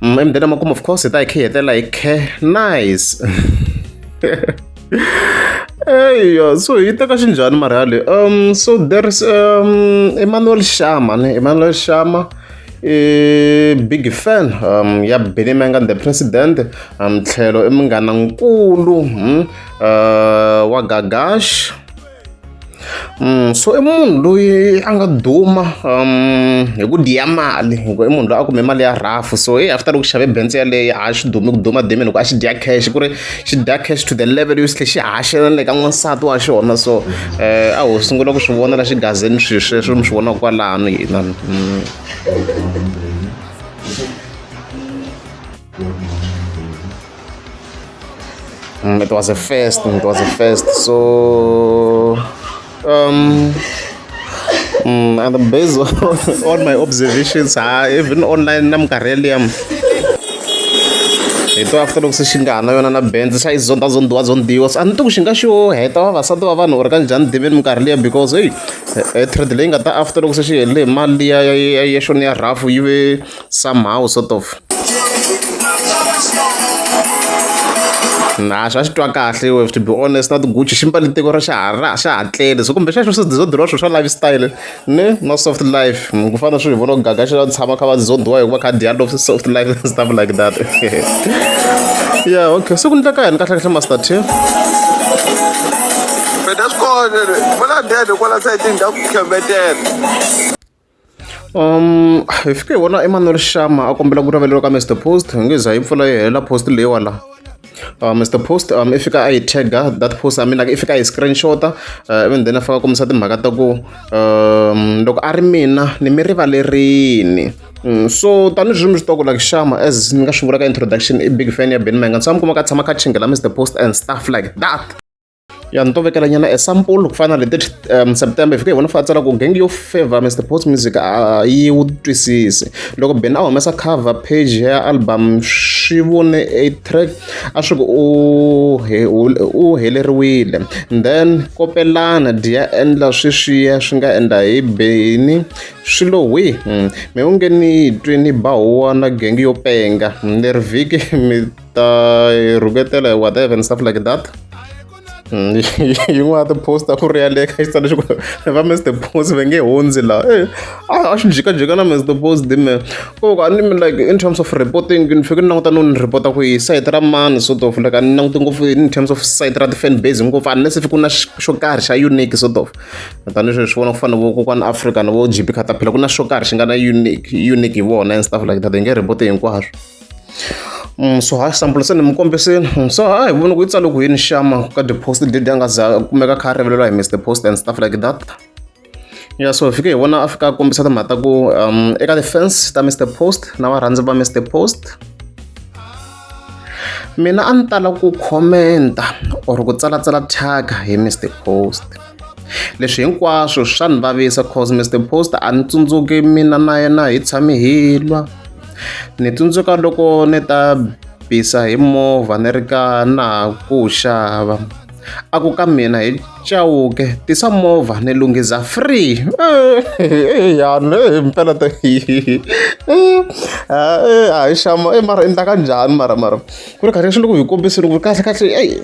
and then amakumu of course hi ta hi khe hi hetelela hi khe nice eya so yi teka xinjhani marihali um so there is um emmanuel shama ni emmanuel shama i big fan um ya benny mangan the president um tlhelo i munghanankulu um uh, wa gagash so i munhu loyi a nga duma hi ku dyiya mali hi ku i munhu loyi a kume mali ya rhafu so i after loko xave benz yaleyo a xi dumi ku duma demini loko a xi dya cash ku ri xi dya cash to the level yo xi tlhe xi haxela ni le ka n'wansati wa xona so a ho sungula ku swi vona la xigazini swi sweswi mi swi vonaka kwalano hina. Mm, it was a first. It was a first. So, um, mm, and the based on my observations, uh, even online, I'm Karelium. hi to after loko se xi nga ha na yona na benz xa yi zonda zondiwa zondiwa so a ni ti ku xi nga xo heta vavasati va vanhu or ka njhani diveni minkarhi liya because heyi trade leyi nga ta after loko se xi helele hi mali ya ya ya xona ya rafu yi ve somehow sort of na swa xi twa kahle we to be honest na tiguchi xi mbali tiko ra xa ha ra xa ha tlele so kumbe xexo swo zo dura swo swa lifestyle ne na soft life ku fana swi hi vona ku gaga xi va tshama kha va zodiwa hikuva kha dialo soft life and stuff like that yeah okay so ku ndla ka yini kahle kahle master t mina swi kona vona dede kwala sayitini ta ku khembetela hi fike hi vona Emanuel Shama a kombela ku rivaleriwa ka Mister Post hi nge za hi mpfula yi hela post leyi wala Mister Post i fika a yi tag-a that post ya mina i fika a yi screenshot-a ivi then a fika a kombisa timhaka ta ku loko a ri mina ni mi rivalerini so tanihi sweswi mi swi tiva ku like Shama as ni nga swi vula ka introduction i big fan ya Benny Mayengani so a mi kuma a kha a tshama a kha a chingela Mister Post and stuff like that. ya ni to vekelanyana e sample ku fana na leti um september hi fika hi vona fa tsala ku gang yo favor mr post music a yi wu twisisi loko ben a humesa cover page ya album swi vone a track a swi ku u heleriwile then kopelana diya endla sweswiya swi nga endla hi beni swi lo hwi hmm. mi onge ni twe ni ba huwa na gengi yo penga ni ri vhiki mi ta rhuketela hi whatever and stuff like that mm, yin'wana ya tipost a ku ri yaleka xi tsala xi ku va mr post va nge hundzi laha e a xi jikajika na mr post dime ko ka ni like in terms of reporting ni fike ni languta no ni report-a ku hi site ra mani sort of like a ni languti ngopfu in terms of site ra ti-fan base ngopfu unless fike ku na xo karhi xa unique sort of tani sweswi swi vona ku fana vo kokwana african vo gp khatapila ku na xo karhi xi nga na unique unique hi vona and stuff like that hi nge report hinkwaswo Mm, so hayi sample se ni mi kombisini mm, so hayi vona ku yi tsale ku yini xama ka deposit date ya nga za kumeka kha a riveleriwa hi miss deposit and stuff like that ya so hi fike hi vona a fika a kombisa timhaka ta ku um eka ti-fans ta mr post na varhandzi va mr post mina a ni tala ku khomenta or ku tsalatsala thyaka hi mr post leswi hinkwaswo swa ni vavisa cause Mister Post a ni tsundzuki mina na yena hi tshami hi lwa ni tsundzuka loko ni ta bisa hi movha ni ri ka na ha ku xava a ku ka mina hi chawuke tisa movha ni lunghiza free yani eh, mpela to eh, a hi xama eh, mara i ndla ka njhani mara mara ku ri karhi swi loko hi kombisile ku ri kahle kahle eyi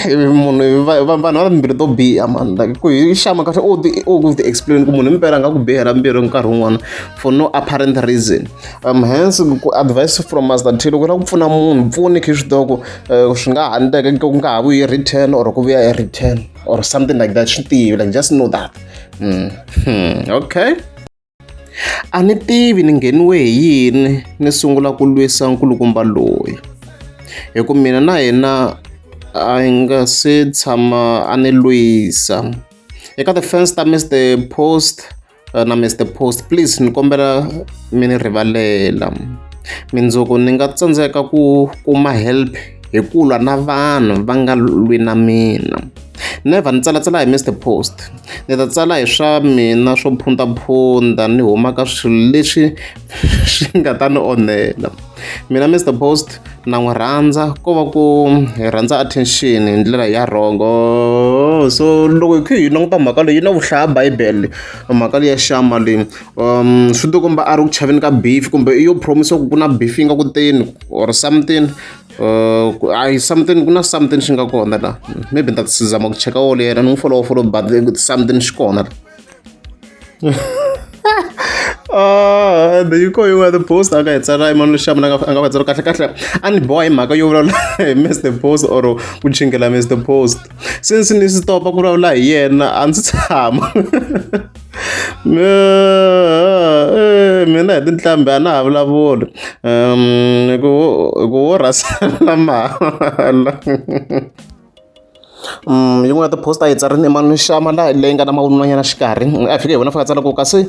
munhu vanhu va na timbuyelo to biha mani like ku hi xama kahle o ti o ku ti explain ku munhu impela a nga ku bihela mbirhi nkarhi wun'wana for no apparent reason um hence ku advice from us that loko la ku pfuna munhu pfuni khe swi tiva ku eh, swi nga ha ndeka ku nga ha vuyi return or ku vuya e return or something like that swi tivi like just know that mm. hmm. okay A ni tivi ni ngheniwe hi yini ni sungula ku lwisa nkulukumba loyi hi ku mina na yena a hi nga se tshama a ni lwisa eka the fence ta Mister Post eh, na Mister Post please ni kombela mi ni rivalela mindzuku ni nga tsandzeka ku kuma help hi ku lwa na vanhu va nga lwi na mina. never ni tsalatsala hi mr post ni ta tsala hi swa mina swo phundaphunda ni huma ka swilo leswi swi nga ta ni onhela mina mr post na n'wi rhandza ko va ku hi rhandza attention hi ndlela ya rhongo so loko hi khe hi languta mhaka leyi na vuhlaya bibele mhaka leyi ya xama leyi um swi tikomba a ri ku chaveni ka beef kumbe i yo promise ku ku na beef yi nga ku teni or something I something ku na something xi nga kona la maybe ni ta zama ku cheka wolo yena ni n'wi follow follow but something xi kona la Ah, the you call you were the post aka hi tsala imani lexamu a nga va tsala kahle kahle a ni boha hi mhaka yo vulavula hi mr post or ku chingela mr post since ni si topa ku vulavula hi yena a ndzi tshama mina hi tinqambi a na ha vulavuli hi ku hi ku wo rhasela mahala yin'wana ya ti-post a yi tsarile emani xama la leyi nga na mavunun'wanyana xikarhi a fike hi vona fika tsalaku kasi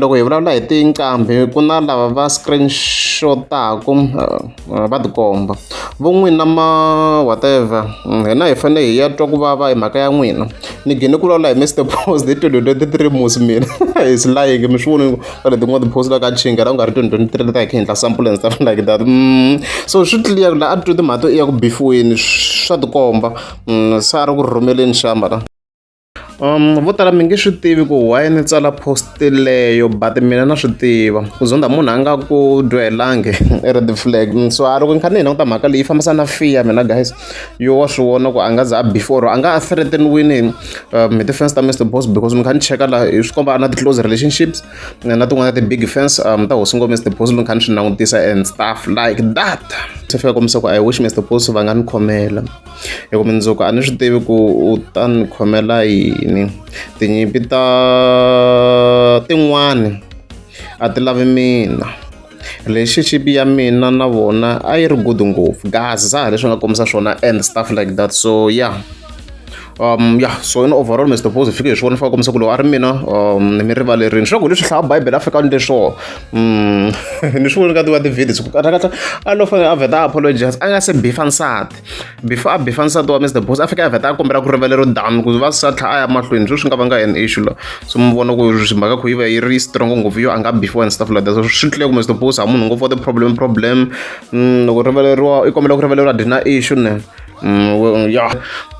loko hi vulavula hi tinqambi ku na lava va screenshot-aku Ah, va tikomba vo n'wina ma whatever mm, hina hi fanele hi ya twa ku vava hi mhaka ya n'wina ni gene ku vulavula hi mr post hi twenty twenty three musi mina is lying mi swi voni ka leti n'wana tipost la ka chinga la ku nga ri twenty twenty three la ta hi khe hindla sample and stuff like that mm, so swi clear la a twi timhaka to iya ku bifiweni swa tikomba mm, sa ri ku rhumeleni xamba la Um, vo tala mi nge swi tivi ku why ni tsala post leyo but mina na swi tiva ku zonda munhu a nga ku dwelangi i red flag so a loko ni kha ni hi languta mhaka leyi fambisa na fear mina guys yo wa swi vona ku a nga za a before a nga a threaten wini um, hi ti-fence ta mr boss because ni kha ni cheka la swi komba a na ti-close relationships na tin'wana ta ti-big fence um, ta hosi ngo mr boss ni kha ni swi langutisa and stuff like that se fika komisa ku i wish mr boss va nga ni khomela hi ku mundzuku a ni swi tivi ku u ta ni khomela yini tinyimpi ta tin'wani a ti lavi mina relationship ya mina na vona a yi ri good ngopfu gazi za ha leswi nga kombisa swona and stuff like that so yeah um ya so in overall mr pose fike hi swi vona faka komisa ku lowu a ri mina um ni mi rivalerini swi ku leswi hlaya bibele a fika ni leswoho um ni swi vona ka tiwa ti-videos ku kahlakahle a lo fanele a vheta a apologize a nga se bifa nsati before a befa nsati wa mr boss a fika a vheta a kombela ku rivalero down ku va sa tlha a ya mahlweni sweswi nga va nga an issue la so mi vona ku mhaka ku yi va yi ri strong ngopfu yo a nga befiwa and stuff like that so swi tlule ku mr boss ha munhu ngopfu the problem problem mm, loko rivaleriwa i kombela ku rivaleriwa dina issue ne Mm, ya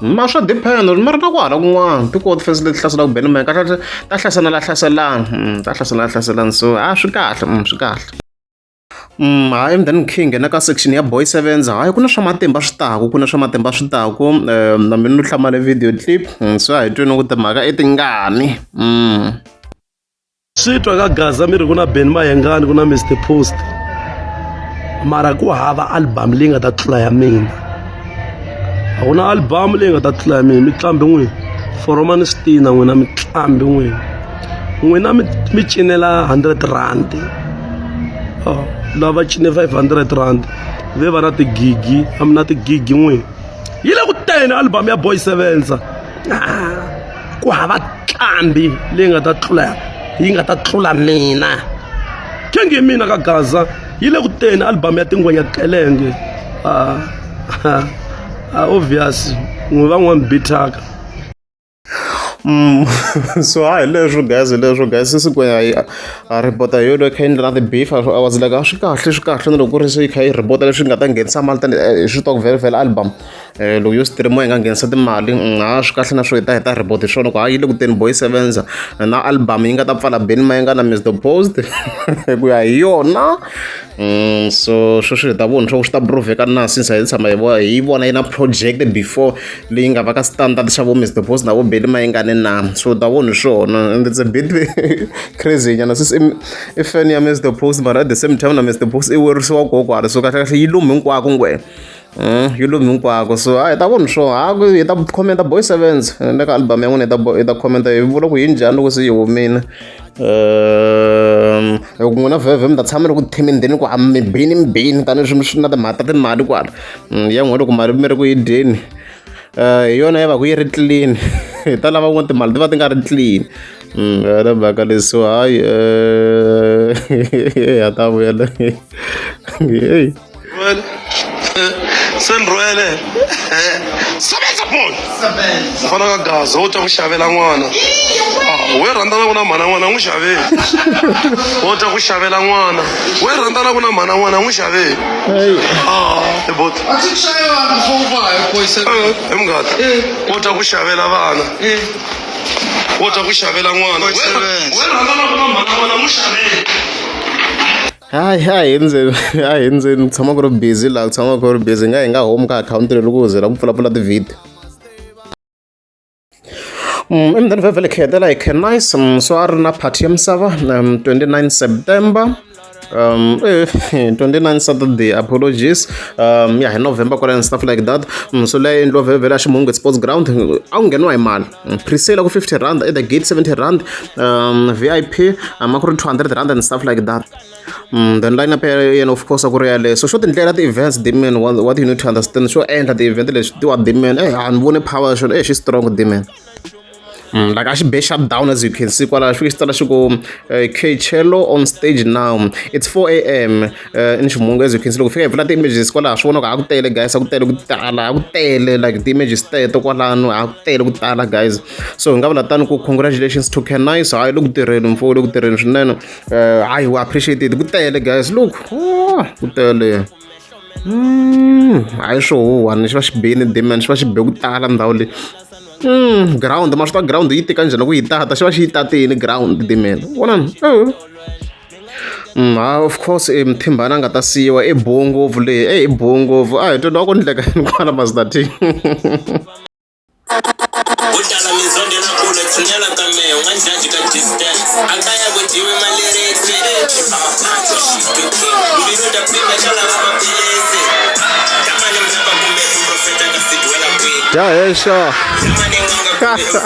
ma swa depend ma ri na ku hala kun'wana ti-court fence leti hlaselaka ben man kahle ta hlaselana la hlaselana mm, ta hlaselana la hlaselana so a ah, swi kahle mm, swi kahle Mm, hayi mndan ngikhe ngena ka section ya boy sevens hayi ku na swa matimba swi taku ku na swa matimba swi taku um na mina no hlamale video clip mm, swi ya hi twini ku timhaka i tingani mm. swi twa ka gaza mi ri ku na ben mayengani ku na mr post mara ku hava album leyi nga ta tlula ya mina a ku na album leyi nga ta tlula ya mina mitlambi n'wini foromani stina n'wina mitlambi n'wini n'wina mi mi cinela 100 rand oh, lava cine 500 rand ve va na tigigi a mi na tigigi n'wina yi le ku teni album ya boy sevenza ah, ku hava tlambi leyi nga ta tlula yi nga ta tlula mina khengi mina ka gaza yi le ku teni album ya tingwenya kelenge ah, ah, ah, obvious n'wi van'wani bithaka Mm. so hi leswo guys leswo guys se siku ya a ripota hi yona kha yi na ti-beef a was like a swi kahle swi kahle na loko ku ri se yi kha yi ripota leswi nga ta nghenisa mali tani eh, hi swi tiva ku vhele vhele album um loko yo streamiwa yi nga nghenisa timali ha mm, ah, swi kahle na swo hi ta hi ta ripota hi swona ku ha yi le ku teni boy sevenza na album yi nga ta pfala beni ma yi nga na mr post ku ya hi yona mm, so sweswi hi ta vona swa ku swi ta proveka na since hi tshama hi vona yi na project before leyi nga va ka standard xa vo mr boss na vo beli mayingani na so ta vona hi swona and it's a bit crazy nyana sisi i fan ya mr boss but at the same time na mr boss i werisiwa gogo hala so kahle kahle yi lomu hinkwako ngwe hmm, yi lomu hinkwako so hayi ta vona swo ha ku hi ta commenta boy sevens le ka album ya n'wina hi ta hi ta commenta hi vula ku hi njhani loko se yi humile loko n'wina vhevhe mi ta tshama ri ku thimendeni ku a mi bini mi bini tanihileswi mi swi na timhaka ta timali kwala mm, ya n'we loko mali mi ri ku yi dyeni um hi yona ya va ku yi ri clean hi ta lava n'we timali ti va ti nga ri clean mm, ra mhaka leswo hayi um ya ta vuyela sendrwele sebenza boy ni fana ka gaza wo ta ku xavela n'wana Ah, we rhandza na ku na mhana n'wana n'wi xaveli wo ta ku xavela n'wana we rhandza na ku na mhana n'wana n'wi xaveli Hey. Ah, hi bota hi mungati wo ta ku xavela vana wo ta ku xavela n'wana we we rhandza na ku na mhana n'wana n'wi xaveli Hi hi hi endzeni hi endzeni ku tshama ku ri busy laha ku tshamaka ku ri busy nga hi nga home ka akhawunti leyi loko u zela ku pfulapfula ti-video mm, emndeni vhevhele khetela hi canice mm, so a ri na party ya misava 29 mm, september um eh, 29 saturday apologies um ya hi november kwalani stuff like that so leyi endliwa vhevhele a ximungu sports ground a wu ngheniwa hi mani Mm, presale ku 50 rand at the gate 70 rand um, vip ama ku ri 200 rand and stuff like that mm, then line up yena of course ku ri yaleyo so swo tindlela ti-events dman what you need to understand swo endla ti-event lexi tiwa dman eh a ni voni power xona eh xi strong dman Mm, like I should be shut down as you can see. Kwala, I should start. I should go. Uh, Kechelo on stage now. It's 4 a.m. Eh, ni ximungu as you can see loko fika hi pfula ti-images kwalaha swi vonaka a ku tele guys a ku tele ku tala a ku tele like ti-images teto kwalano a ku tele ku tala guys so hi nga vula tani ku congratulations to canice hayi loku tirheni mfo loku tirheni swinene eh, hayi wa appreciate it ku tele guys look oh, ku tele hmm, hayi swo huhwana xi va xi beni demand xi va xi be ku tala ndhawu leyi hmm, ground ma swi ta ground yi tika njhani ku yi tata xi va xi yi tatini ground demand vonani oh. ha of course e muthimbana a nga ta siyiwa i boho ngopfu leyi e i boho ngopfu a hi tweni wa ku ndleka yini kwala masdati Yeah, yeah, sure.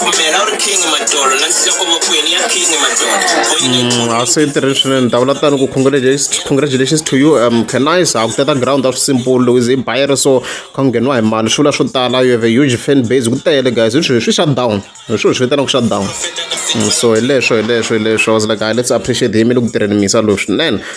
pfumela u ri king madolo na nhloko makwenu ya king madolo mm, a swi tirhi swinene ni ta vula tani ku congratulations to you um canise a ku teta ground a swi simple louis i bayere so kha ku ngheniwa hi mali swi vula swo tala you have a huge fan base ku tele guys hi swilo swi shut down hi swilo swi vitana ku shut down mm, so hi leswo hi leswo hi leswo i was like let's appreciate him i le ku tirheni misa lowu swinene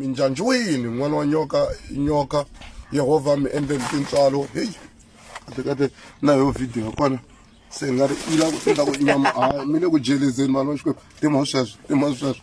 minjanjiwini n'wana wa nyoka nyoka yehovha mi endleni tintswalo heyi katekate na yo video ya kona se nga ri yi lava ku endla ku inyama hayi mi le ku jelezeni vanhu va xikwembu timhosweswo timhosweswo